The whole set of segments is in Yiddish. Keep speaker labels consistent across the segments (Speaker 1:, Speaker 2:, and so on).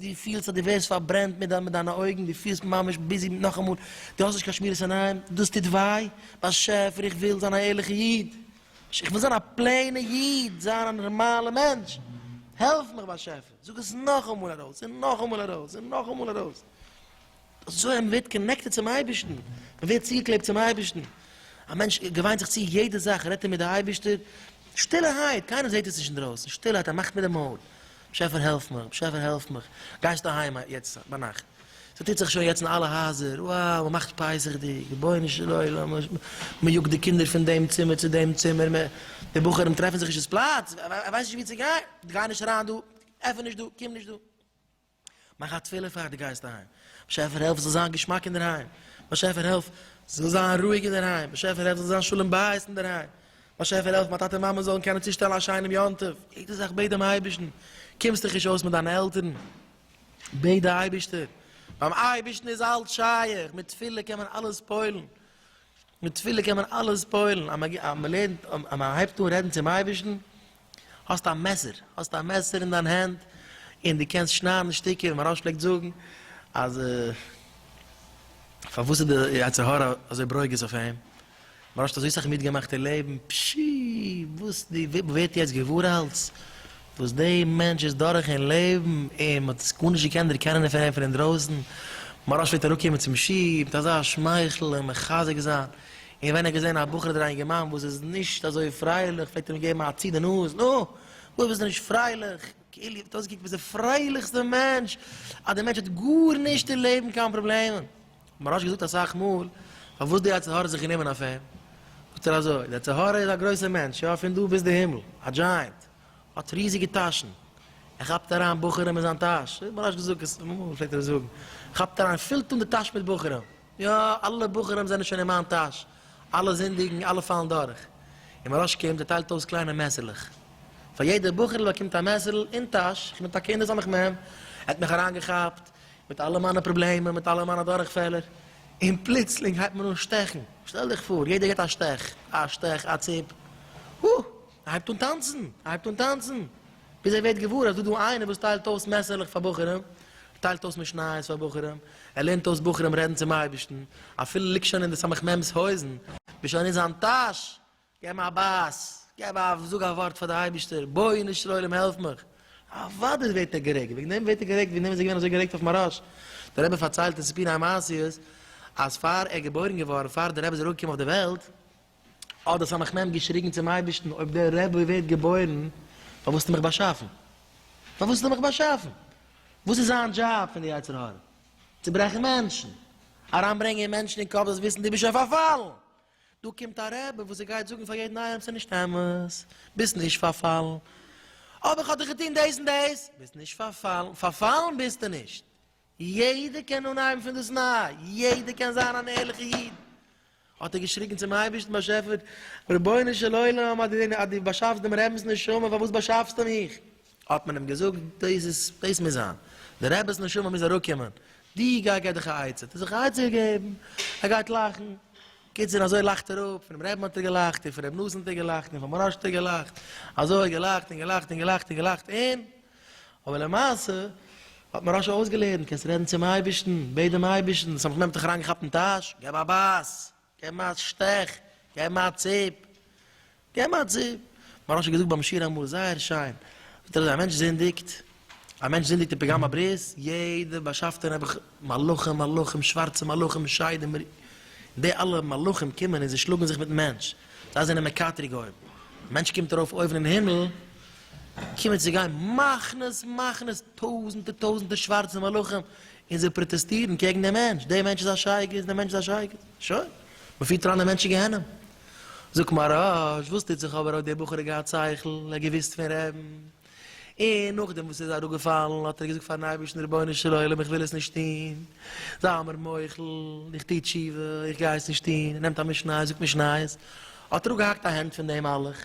Speaker 1: דו פילסט אז דו ווערסט פארברענט מיט דיינע אויגן, דו פילסט ממש ביזי מיט נאכאמאל, דו האסט נישט קיין שמירת עיניים, דאס טוט וויי, באשעפער איך וויל זיין א ערליכע איד, איך וויל זיין א פלעינע איד, זיין א נארמאלע מענטש, העלף מיך באשעפער, זאג עס נאכאמאל ארויס, און נאכאמאל ארויס, און נאכאמאל ארויס, אזוי אז מען ווערט קאנעקטעד צום אייבערשטן, מען ווערט צוגעקלעבט צום אייבערשטן, א מענטש געוויינט זיך צו יעדע זאך, רעדט ער מיט די אייבערשטער, שטילערהייט, קיינער זעט עס נישט אינדרויסן, שטילערהייט, ער מאכט מיט די מויל, באשעפער העלף מיך, באשעפער העלף מיך, גייסט אהיים יעצט ביינאכט, ס'טוט זיך שוין יעצט אין אלע הייזער, וואו, מען מאכט פסח'דיג, רבונו של עולם, מען יאגט די קינדער פון דעם צימער צו דעם צימער, מען, די בחורים טרעפן זיך נישט אינ'ס פלאץ, ער ווייסט נישט וואו צו גיין, גיי נישט אריין דא, עפן נישט דא, קום נישט דא. מאך א תפילה פאר די גייסט אהיים, באשעפער העלף עס זאל זיין געשמאק אינדערהיים, באשעפער העלף עס זאל זיין רואיג אינדערהיים, באשעפער העלף עס זאל זיין שלום בית אינדערהיים, באשעפער העלף מיין טאטע מאמע זאלן קענען צושטעלן א שיינעם יום טוב, יעדע זאך בעט דעם אייבערשטן, קומסט דיך נישט אויס מיט דיינע עלטערן, בעט די אייבערשטער, ביים אייבערשטן איז אלץ שייך, מיט תפילה קען מען אלעס פועל'ן, מיט תפילה קען מען אלעס פועל'ן, אז מען לערנט אז מען הייבט אן רעדן צום אייבערשטן, האסט א מעסער, האסט א מעסער אין דיין הענט, און דו קענסט שניידן אין שטיקער, ווי מהראש פלעגט זאגן, אז פארוואס איז די יצר הרע אזוי ברוגז אויף אים, מהראש האט אזוי סאך מיטגעמאכט אין לעבן, פשי, וואס די וויפל ווערט יעצט געוואר אלץ וואס די מענטש איז דורך אין לעבן, און מען האט עס גארנישט געקענט דערקענען פון אים פון אינדרויסן, מהראש פלעגט אראפקומען צום שי ת מיט אזא שמייכל און מחזק זיין, און ווען ער האט געזען א בחור אדער א אינגערמאן וואס איז נישט אזוי פרייליך פלעגט ער אים געבן א צי די נאז, נו! וואס ביסטו נישט פרייליך? כאילו איר האט אויסגעקוקט ווי די פרייליכסטע מענטש, אז דער מענטש האט גארנישט אין לעבן קיין פראבלעמען. מרש געזאגט אסאך מאל פארוואס די יצר הרע האט זיך גענומען אויף אים, זאגט ער אזוי, די יצר הרע איז א גרויסער מענטש, יא פון דא ביז די הימל, א דזשייענט, האט ריזיגע טאשן, ער כאפט אריין בחורים אין זיין טאש, מרש געזאגט עס אמאל פלעגט ער עס זאגן, כאפט אריין פילט אן די טאש מיט בחורים. יא, אלע בחורים זענען שוין אין מיין טאש, אלע זינדיגן, אלע פאלן דורך. און מוהראש קומט און טיילט אויס קליינע מעשה'לעך. פאר יעדע בחור'ל באקומט א מעשה'ל אין טאש, איך בין טאקע אין די סמך מם, ער האט מיך אריינגעכאפט, מיט אלע מיינע פראבלעמען, מיט אלע מיינע דורכפעלער, און פלוצלינג הייבט מען אן שטעכן. שטעל דיך פאר, יעדער געט א שטעך, א שטעך, א ציפ. הא! ער הייבט אן טאנצן, ער הייבט אן טאנצן, ביז ער ווערט געוואר אז דא דא איינער וואס טיילט אויס מעסערלעך פאר בחורים, ער טיילט אויס משניות פאר בחורים, ער לערנט אויס בחורים רעדן צום אייבערשטן, אפילו ליגט שוין אין די סמך מם'ס הויזן, ביסט שוין אין זיין טאש, געב מיר א בייס, געב א, זאג א ווארט פאר די אייבערשטער, בוינו של עולם העלף מיך, אוודאי ווערט ער גערעגט, וועגן דעם ווערט ער גערעגט, וועגן דעם איז ער געווען אזוי גערעגט אויף מהרש ל, דער רבי פארציילט אין סיפורי המעשיות אז פאר ער געבוירן געווארן, פאר דער רבי איז אראפגעקומען אויף די וועלט, האט דער סמך מם געשריגן צום אייבערשטן, אויב דער רבי ווערט געבוירן, פארוואס האסטו מיך באשאפן? פארוואס האסטו מיך באשאפן? וואס איז זיין דזשאב פון די יצר הרע? צוברעכן מענטשן, אריינברענגען מענטשן אין קאפ זיי זאלן וויסן דו ביסט שוין פארפאלן! דא קומט א רבי וואס ער גייט זאגן פאר יעדן איינעם ס'איז נישט אמת, ביסט נישט פארפאלן, אבער כ'האב דיך געטון דאס און דאס, ביסט נישט פארפאלן, פארפאלן ביסטו נישט! יעדער קען אנהייבן פון דאס ניי, יעדער קען זיין אן ערליכע איד. האט ער געשריגן צום אייבערשטן באשעפער, רבונו של עולם אז דו באשאפסט דעם רבינ'ס נשמה פארוואס באשאפסטו מיך? האט מען אים געזאגט, דאס איז, דאס מוז זיין, דער רבינ'ס נשמה מוז אראפקומען, דו גיי גיב דיך א עצה, האט ער זיך א עצה געגעבן, ער גייט לאכן, קיצור אזוי לאכט ער אפ, פונעם רעבין האט ער געלאכט, און פון ר' נתן האט ער געלאכט, און פון מוהראש האט ער געלאכט, אזוי געלאכט און געלאכט און געלאכט און געלאכט און. אבער למעשה האט מוהרא ש אויסגעלערנט, קענסט רעדן צום אייבערשטן, בעט דעם אייבערשטן, ס'האט מיך נעבעך זיך אריינגעכאפט אין טאש, געב א בייס, געב מיר א שטעך, געב מיר א ציפ, געב מיר א ציפ. מוהרא ש האט געזאגט ביים שיעור אמאל זייער שיין, זאגט ער אזוי, א מענטש זינדיגט, א מענטש זינדיגט אין פגם הברית, יעדע באשאפטער נעבעך, מלאכים מלאכים, שווארצע מלאכים, שדים, און די אלע מלאכים קומען און זיי שלאגן זיך מיטן מענטש, זיי זענען מקטרג אויבן, א מענטש קומט ארויף אויבן אין הימל, קומען צו גיין מחנות מחנות טויזענטער טויזענטער שווארצע מלאכים און זיי פראטעסטירן קעגן דעם מענטש, דער מענטש איז א שייגעץ, דער מענטש איז א שייגעץ, שוין, מען פירט אריין דעם מענטש אין גיהנום. זאגט מהרש, וואס טוט זיך אבער האט דער בחור געהאט שכל, ער האט געוואוסט פון רעדן, און נאכדעם וואס ער איז אראפגעפאלן האט ער געזאגט פארן אייבערשטן רבונו של עולם איך וויל עס נישט טון, זיי מיר מוחל, איך טו תשובה, איך גיי עס נישט טון, ער נעמט א משניות, זאגט משניות, האט אראפגעהאקט א הענט פון דעם מלאך.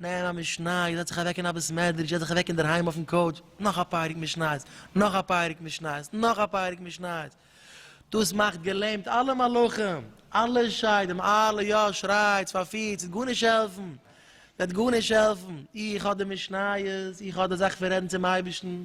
Speaker 1: נעם א משניות, זעץ זיך אוועק אין א בית מדרש, זעץ זיך אוועק אינדערהיים אויפן קאוטש, נאך א פרק משניות, נאך א פרק משניות, נאך א פרק משניות. דאס מאכט געלעמט אלע מלאכים, אלע שדים, אלע יא, שרייטס, פארפירטס, ס'וועט גארנישט העלפן, ס'וועט גארנישט העלפן, איך האב די משניות, איך האב די זאך פון רעדן צום אייבערשטן,